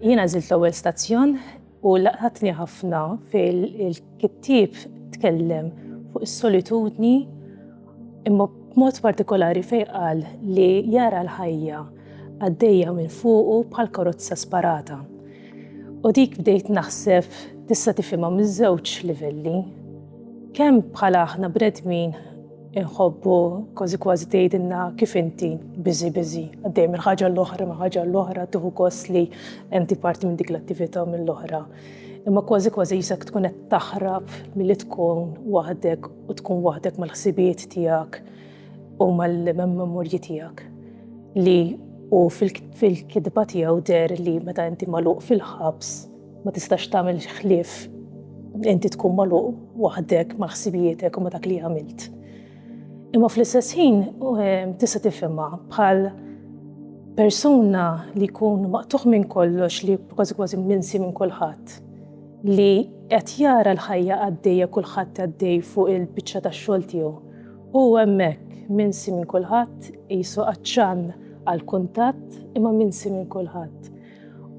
Jiena żilt l-ewwel stazzjon u laqatni ħafna fil-kittieb tkellem fuq is-solitudni imma b'mod partikolari fejn qal li jara l-ħajja għaddejja minn fuqu bħal karozza sparata. U dik bdejt naħseb tista' tifhimha miż-żewġ livelli. Kemm bħala aħna bredmin inħobbu kważi kważi tgħidilna kif inti biżi biżi għaddej minn ħaġa l-oħra ma' ħaġa l-oħra tieħu gost li inti parti minn dik l-attività mill-oħra. Imma kważi kważi jisak tkun qed taħrab milli tkun waħdek u tkun waħdek mal-ħsibijiet tiegħek u mal-memorji tiegħek li u fil-kidba tiegħu der li meta inti magħluq fil-ħabs ma tistax tagħmel ħlief inti tkun magħluq waħdek ma' ħsibietek u ma' dak li għamilt. Imma fl-istess ħin ehm, tista' tifhimha bħal persuna li jkun maqtuħ minn kollox li kważi kważi minsi minn kulħadd li qed jara l-ħajja għaddejja kulħadd għaddej fuq il-biċċa tax-xogħol tiegħu U hemmhekk, minsi minn kulħadd, qisu għatxan għall-kuntatt imma minsi minn kulħadd.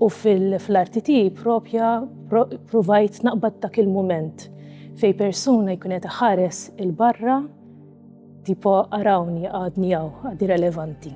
U fl-arti tiegħi propja provajt naqbad dak il-mument fej persuna jkun qed iħares il-barra tipo arawni għadni għaw, għadni relevanti.